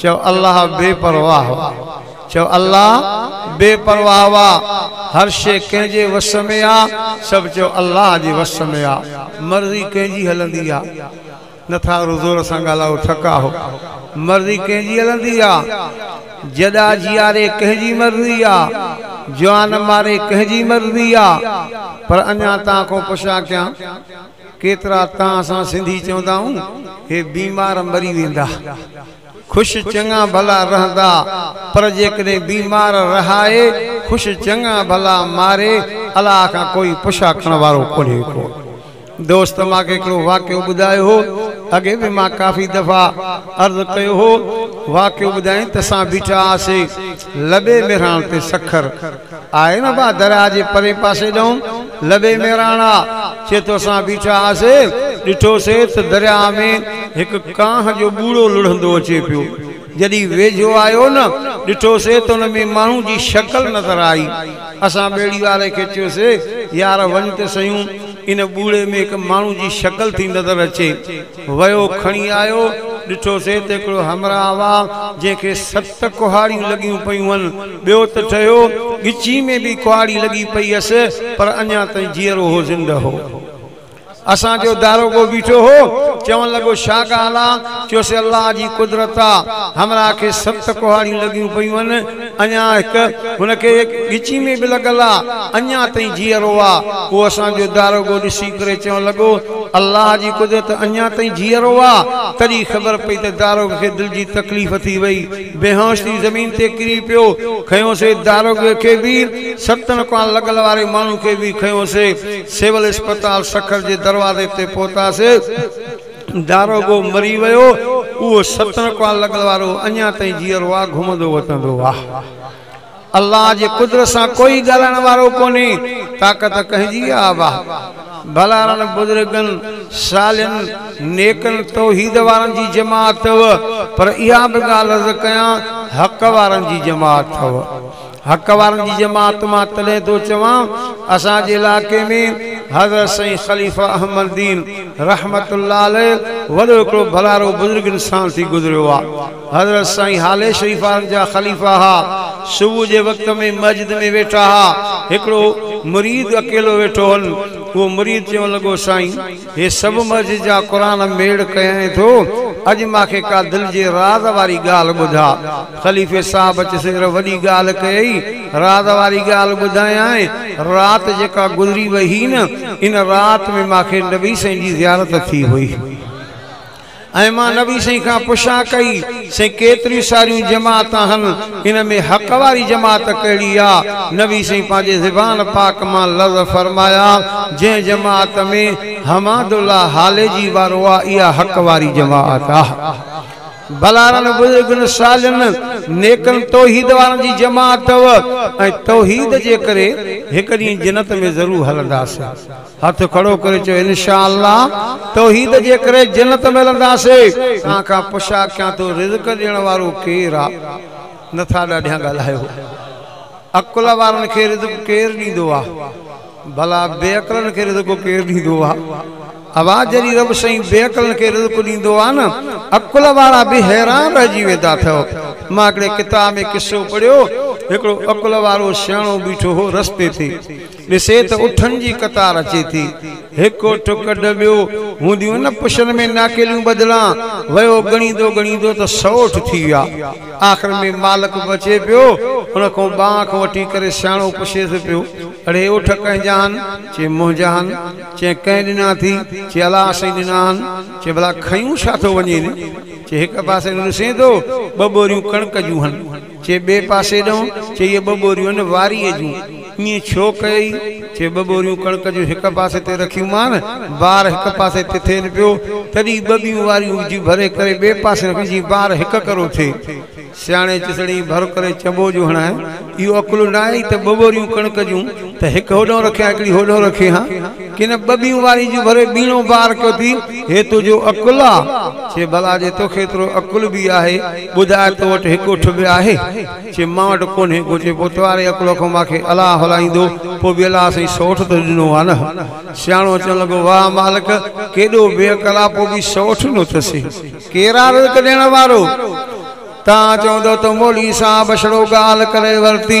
چؤ الله بي پرواهه وا. چؤ الله بي پرواهه وا. هر شي ڪنهن جي وس ۾ آ. سڀ چؤ الله جي وس ۾ آ. مرضي ڪنهن جي هلندي آ. نه ٿا ورو زور سان ڳالهائو ٿڪا هو. مرضي ڪنهن جي هلندي آ. جڏا جياري ڪنهن جي مرضي آ. جوان ماري ڪنهن جي مرضي آ. پر اڃا تان کون پڇان ڪيان. ڪيترا تان اسان سنڌي چوندا هون هي بيمار مري ويندا خوش چڱا ڀلا رهندا پر جيڪڏهن بيمار رهائي خوش چڱا ڀلا ماري الا کان ڪوئي پڇا کڻ وارو ڪونهي ڪو دوست مان کي هڪڙو واقعو ٻڌايو هو اڳي به مان ڪافي دفعا عرض ڪيو هو واقعو ٻڌائين ته اسان بيٺا هئاسي لٻي مهراڻ تي سکر آهي نه ڀاء درياء جي پرين پاسي ڏئون لٻي مهراڻ آ چي ٿو اسان بيٺا هئاسي ڏٺو سي ته درياء ۾ هڪ ڪانه جو ٻوڙو لڙهندو اچي پيو جڏهن ويجهو آيو نه ڏٺو سي ته ان ۾ ماڻهو جي شڪل نظر آئي اسان ٻيڙي واري کي چيو سي يار وڃ ته سهيون ان ٻوڙي ۾ هڪ ماڻهو جي شڪل ٿي نظر اچي ويو کڻي آيو ڏٺو سي ته هڪڙو همراهه هئا جنهن کي ست ته ڪهاڙيون لڳيون پيون هئن. ٻيو ته چيو، ڳچي ۾ به ڪهاڙي لڳي پئي هيس، پر اڃا تائين جيئرو هو، زنده هو. اسان جو داروغو بيٺو هو، چوڻ لڳو، ڇا ڳالهه آ؟ چيوسين، الله جي قدرت آ، همراهه کي ست ڪهاڙيون لڳيون پيون هئن، اڃا هڪ هن کي ڳچي ۾ به لڳل آ، اڃا تائين جيئرو آ. پوء اسان جو داروغو ڏسي ڪري چوڻ لڳو، الله جي قدرت اڃا تائين جيئرو آ، تڏهن خبر پئي ته داروغ کي دل جي تڪليف ٿي وئي، بيهوش ٿي زمين تي ڪري پيو، کنيوسي داروغ کي به، ستن کان لڳل واري ماڻهو کي به کنيوسي، سول اسپتال سکر جي دروازي تي پهتاسي، داروغ مري ويو، اهو ستن کان لڳل وارو اڃا تائين جيئرو آ، گهمندو وتندو آ. الله جي قدرت سان ڪوئي ڳالهائڻ وارو ڪونهي، طاقت ڪنهن جي آ واه! ڀلا انهن بزرگن، صالحن، نيڪن، توحيد وارن جي جماعت اٿئو، پر اها به ڳالهه عرض ڪيان، حق وارن جي جماعت اٿئو. حق وارن جي جماعت مان تڏهن ٿو چوان، اسان جي علائقي ۾ حضرت سائين خليفه احمد الدين رحمة الله عليه وڏو هڪڙو ڀلارو بزرگ انسان ٿي گذريو آ. حضرت سائين هالي شريف وارن جا خليفا ها. صبح جي وقت ۾ مسجد ۾ ويٺا ها. هڪڙو مريد اڪيلو ويٺو هن. اهو مريد چوڻ لڳو سائين هي سڀ مسجد جا قرآن ميڙ ڪيائين ٿو. اڄ مان کي ڪا دل جي راز واري ڳالهه ٻڌاء. خليفي صاحب اچ سندر وڏي ڳالهه ڪيئي. راز واري ڳالهه ٻڌايائين. رات جيڪا گذري وئي هئي نه ان رات ۾ مان کي نبي سائين جي زيارت ٿي هئي. ۽ مان نبي سائين کان پڇا ڪئي سائين ڪيتريون ساريون جماعتان هن ان ۾ حق واري جماعت ڪهڙي آ نبي سائين پنهنجي زبان پاڪ مان لفظ فرمايا جنهن جماعت ۾ حماد الله هاليجي وارو آ اها حق واري جماعت آ ڀلارن بزرگن صالحن نيڪن توحيد وارن جي جماعت اتو ۽ توحيد جي ڪري هڪ ڏينهن جنت ۾ ضرور هلنداسين. هٿ کڙو ڪري چيو انشاء الله توحيد جي ڪري جنت ملنداسي توهان کان پڇا ڪيان ٿو رزق ڏيڻ وارو ڪير آ نٿا ڏاڍيان ڳالهايو عقل وارن کي رزق ڪير ڏيندو آ ڀلا بي عقلن کي رزق ڪير ڏيندو آ اوا جڏي رب سائين بي عقلن کي رزق ڏيندو آ نه عقل وارا به حيران رهجي ويندا اٿو مان هڪڙي ڪتاب ۾ قصو پڙهيو هڪڙو عقل وارو سياڻو بيٺو هو رستي تي ڏسي ته اٺن جي قطار اچي ٿي. هڪ اٺ ڪڍ ٻيو هونديون نه پشن ۾ ناڪيليون بدلان ويو ڳڻيندو ڳڻيندو ته سؤ اٺ ٿي ويا. آخر ۾ مالڪ به اچي پيو هن کون ٻانهک وٺي ڪري سياڻو پڇيس پيو اڙي اٺ ڪنهن جا هن؟ چي منهنجا هن. چئين ڪنهن ڏنا ٿي؟ چي الاهه سائين ڏنا هن. چئين ڀلا کنيون ڇا ٿو وڃين؟ چي هڪ پاسي ڏسين ٿو ٻه ٻوريون ڪڻڪ جون هن. چي ٻئي پاسي ڏئون؟ چي اهي ٻه ٻوريون آهن واريء جون، ائين ڇو ڪيئي؟ چي ٻه ٻوريون ڪڻڪ جون هڪ پاسي تي رکيومان، بار هڪ پاسي تي ٿين پيو، تڏهن ٻه ٻيون واريون وجهي ڀري ڪري ٻئي پاسي رکيون جيئن بار هڪ ڪرو ٿئي. سياڻي چسڙيء ڀر ڪري چنبو جو هڻائي، اهو عقل نه آيئي ته ٻه ٻوريون ڪڻڪ جون ته هڪ هوڏانهن رکي هان هڪڙي هوڏانهن رکي هان. ڪن ٻه ٻيون واري جي ڀري ٻيڻو بار ڪيو ٿي، هي تنهنجو عقل آ؟ چي ڀلا جي توکي ايترو عقل به آهي، ٻڌاء تو وٽ هڪ اٺ به آهي؟ چي مان وٽ ڪونهي ڪو، چي پوء توهاري عقل کان مان کي الهه هلائيندو، پوء به الهه سائين سوٺ ته ڏنو آ نه؟ سياڻو چوڻ لڳو واه مالڪ، ڪيڏو بي عقل آ، پوء به سوٺ ڏنو اٿس. ڪير آ رزق ڏيڻ وارو؟ تان چوندو ته مولوي صاحب بڇڙو ڳالهه ڪري ورتي.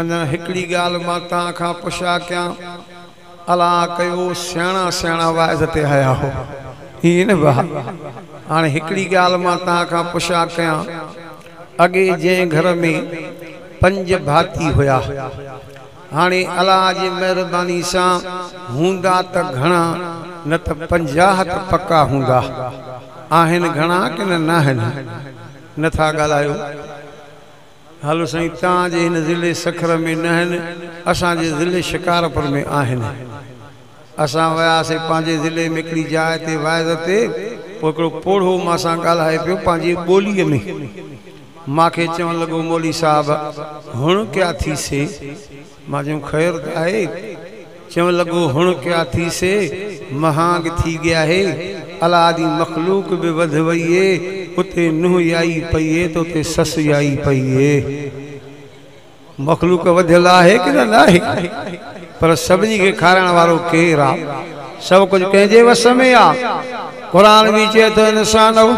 اڃا هڪڙي ڳالهه مان توهان کان پڇا ڪيان، الا ڪيو سياڻا سياڻا واعظ تي آيا هئا، ائين نه ڀاء؟ هاڻي هڪڙي ڳالهه مان توهان کان پڇا ڪيان، اڳي جنهن گهر ۾ پنج ڀاتي هيا، هاڻي الا جي مهرباني سان هوندا ته گهڻا، نه ته پنجاهه ته پڪا هوندا، آهن گهڻا ڪنه ناهن؟ نه ٿا ڳالهايو؟ هلو سائين توهان جي هن ضلعي سکر ۾ ناهن اسان جي ضلعي شڪارپور ۾ آهن اسان وياسي پنهنجي ضلعي ۾ هڪڙي جاء تي واعظ تي پوء هڪڙو پوڙهو مان سان ڳالهائي پيو پنهنجي ٻولي ۾ مان کي چوڻ لڳو مولوي صاحب هڻ ڪيا ٿيسي مان چيم خير ته آهي. چوڻ لڳو هڻ ڪيا ٿي سي مهانگ ٿي گيا هي. الا جي مخلوق به وڌ وئي هي. اتي نونهن يائي پئي هي ته اتي سس يائي پئي هي. مخلوق وڌيل آهي ڪي نه ناهي پر سڀني کي کارائڻ وارو ڪير آ؟ سڀ ڪجهه ڪنهن جي وس ۾ آ؟ قرآن به چئي ٿو انسانؤ!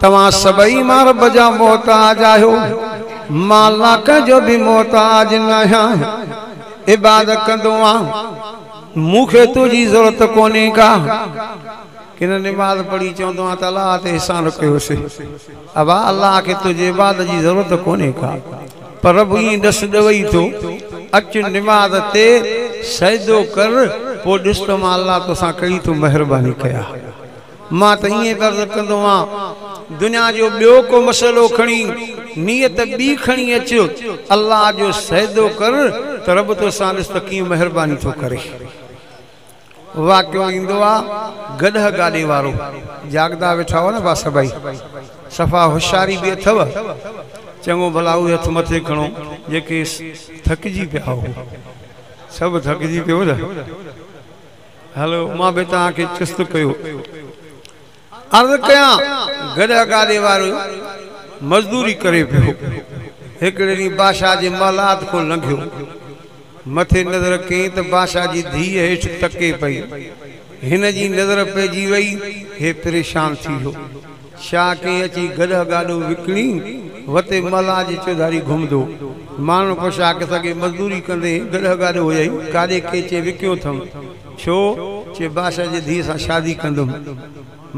توهان سڀئي مان رب جا محتاج آهيو، مان الله ڪنهن جو به محتاج ناهيان، عبادت ڪندو آهيان، مون کي تنهنجي ضرورت ڪونهي ڪا. ڪنهن نماز پڙهي چوندو آهيان ته الله تي احسان ڪيو سين، ابا الله کي تنهنجي عبادت جي ضرورت ڪونهي ڪا، پر رب ائين ڏس ڏوئي ٿو، اچ نماز تي سجدو ڪر، پوء ڏس ته مان الله توسان ڪهڙي ٿو مهرباني ڪيان. مان ته ائين غرض ڪندو هئان دنيا جو ٻيو ڪو مسئلو کڻي نيت ٻي کڻي اچ الله جو سجدو ڪر ته رب توسان ڏس ته ڪيئن مهرباني ٿو ڪري واقعو ايندو آ گڏهه گاڏي وارو جاڳدا ويٺا هئا نه با سڀئي صفا هوشياري به اٿو چڱو ڀلا اهي هٿ مٿي کڻو جيڪي ٿڪجي پيا هو سڀ ٿڪجي پيو نه هلو مان به توهان کي چست پيو عرض ڪيان، گڏهه گاڏي وارو مزدوري ڪري پيو، هڪڙي ڏينهن باشا جي محلات کان لنگهيو، مٿي نظر ڪيائين ته باشا جي ڌيء هيٺ تڪي پئي، هن جي نظر پئجي وئي، هي پريشان ٿي ويو. شاهه ڪئين اچي گڏهه گاڏو وڪڻي، وتي ملاح جي چوڌاري گهمندو. ماڻهن پڇ شاهه کيس اڳي مزدوري ڪندي هي گڏهه گاڏو هيائي، ڪاڏي ڪئين چئي وڪيو ٿم. ڇو؟ چئي بادشاهه جي ڌيء سان شادي ڪندم.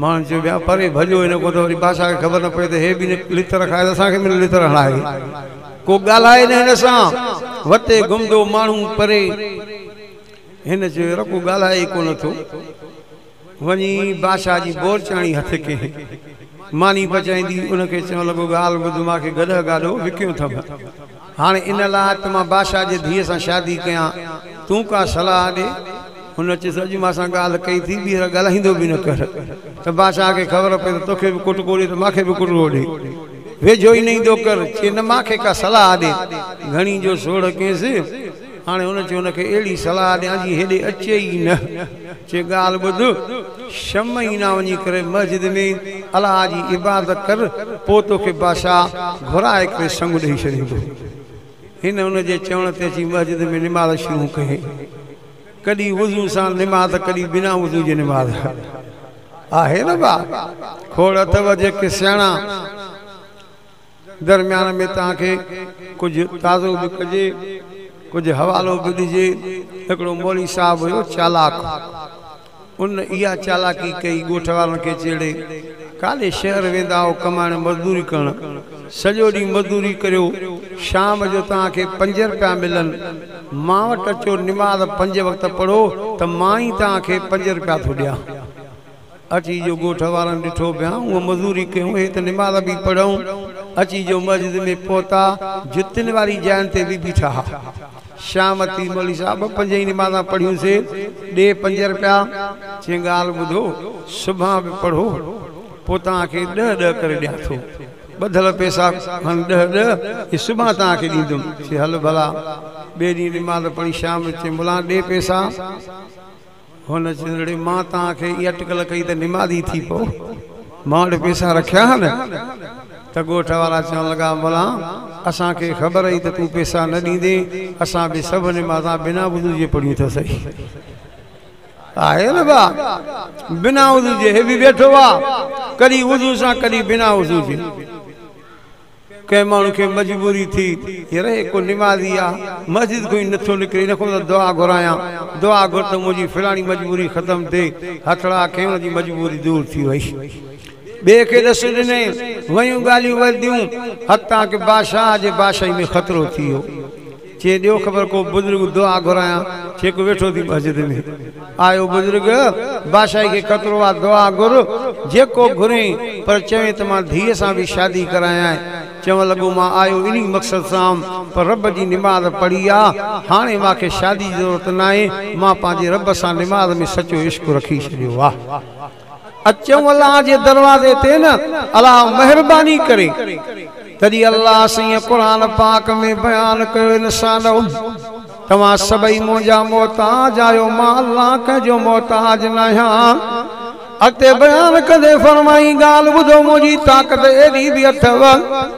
ماڻهن چيو ويا پري ڀڄو هن کان ته وري بادشاهه کي خبر نه پوي ته هي به نه لتر کائي ته اسان کي به نه لتر هڻائي. ڪو ڳالهائي نه هن سان. وتي گهمندو ماڻهو پري. هن چيو يار ڪو ڳالهائي ئي ڪونه ٿو. وڃي بادشاهه جي بورچاڻي هٿ ڪنهن ماني پچائيندي ان کي چئڻ لڳو ڳالهه ٻڌ مان کي گڏهه گاڏو وڪيو اٿم هاڻي ان لاء ته مان بادشاهه جي ڌيء سان شادي ڪيان تون ڪا صلاح ڏي هن چيس اڄ مان سان ڳالهه ڪئي ٿي ٻيهر ڳالهائيندو به نه ڪر ته بادشاهه کي خبر پئي ته توکي به ڪٽڪو ڏي ته مان کي به ڪٽڪو ڏي ويجهو ئي نه ايندو ڪر چي نه مان کي ڪا صلاح ڏي گهڻي جو سوڙهه ڪيس هاڻي هن چيو، هن کي اهڙي صلاح ڏيان جي هيڏي اچي ئي نه. چي ڳالهه ٻڌ، شم اينا وڃي ڪري مسجد ۾ الله جي عبادت ڪر، پوء توکي بادشاهه گهرائي ڪري سڱ ڏئي ڇڏيندو. هن ان جي چوڻ تي اچي مسجد ۾ نماز شروع ڪئي. ڪڏي وضو سان نماز ڪڏي بنا وضو جي نماز. آهي نه ڀاء، کوڙ اٿئو جيڪي سياڻا. درميان ۾ توهان کي ڪجهه تازو به ڪجي، ڪجهه حوالو به ڏجي. هڪڙو مولوي صاحب هيو چالاڪ. ان اها چالاڪي ڪئي، ڳوٺ وارن کي چيڙي، ڪالهي شهر ويندا هئو ڪمائڻ مزدوري ڪرڻ، سڄو ڏينهن مزدوري ڪريو، شام جو توهان کي پنج رپيا ملن، مان وٽ اچو نماز پنج وقت پڙهو ته مان ئي توهان کي پنج رپيا ٿو ڏيان. اچي جو ڳوٺ وارن ڏٺو پيا هونء مزوري ڪيون هي ته نماز به پڙهون. اچي جو مسجد ۾ پهتا، جتين واري جاين تي به بيٺا ها. شام ٿي مولوي صاحب پنج ئي نمازان پڙهيون سي، ڏي پنج رپيا. چيائين ڳالهه ٻڌو، سڀان به پڙهو، پوء توهان کي ڏهه ڏهه ڪري ڏيان ٿو. ٻڌل پئسا هن ڏهه ڏهه اهي سڀان توهان کي ڏيندم. چي هل ڀلا. ٻئي ڏينهن نماز پڙهي شام جو چيائين ملان ڏي پئسا. هن جهڙي مان توهان کي اها ٽڪل ڪئي ته نمازي ٿي پئو. مان وٽ پيسا رکيا ها نه؟ ته ڳوٺ وارا چوڻ لڳا، ملا! اسان کي خبر هئي ته تون پيسا نه ڏيندين، اسان به سڀ نمازان بنا وضو جي پڙهيون ٿا سهي. آهي نه ڀاء! بنا وضو جي هي به ويٺو آ، ڪڏهن وضو سان ڪڏهن بنا وضو جي. ڪنهن ماڻهو کي مجبوري ٿي يار هي ڪو نمازي آ مسجد کان ئي نٿو نڪري هن کان ته دعا گهرايان دعا گهر ته منهنجي فلاڻي مجبوري ختم ٿئي هٿڙا کين ان جي مجبوري دور ٿي وئي ٻئي کي ڏس ڏني ويون ڳالهيون ورديون حتان ڪه بادشاهه جي بادشاهي ۾ خطرو ٿي ويو. چي ڏيو خبر ڪو بزرگ دعا گهرايان ڇيڪ ويٺو ٿي مسجد ۾ آيو بزرگ بادشاهي کي خطرو آ دعا گهر جيڪو گهرين پر چوين ته مان ڌيء سان به شادي ڪرايانء چوڻ لڳو مان آيو انهي مقصد سان هئم پر رب جي نماز پڙهي آ هاڻي مان کي شادي جي ضرورت ناهي مان پنهنجي رب سان نماز ۾ سچو عشق رکي ڇڏيو آ. اچون الله جي دروازي تي نه الله مهرباني ڪري تڏهن الله سائين قرآن پاڪ ۾ بيان ڪيو انسانؤ توهان سڀئي منهنجا محتاج آهيو مان الله ڪنهن جو محتاج ناهيان اڳتي بيان ڪندي فرمائي ڳالهه ٻڌو منهنجي طاقت ايڏي به اٿئو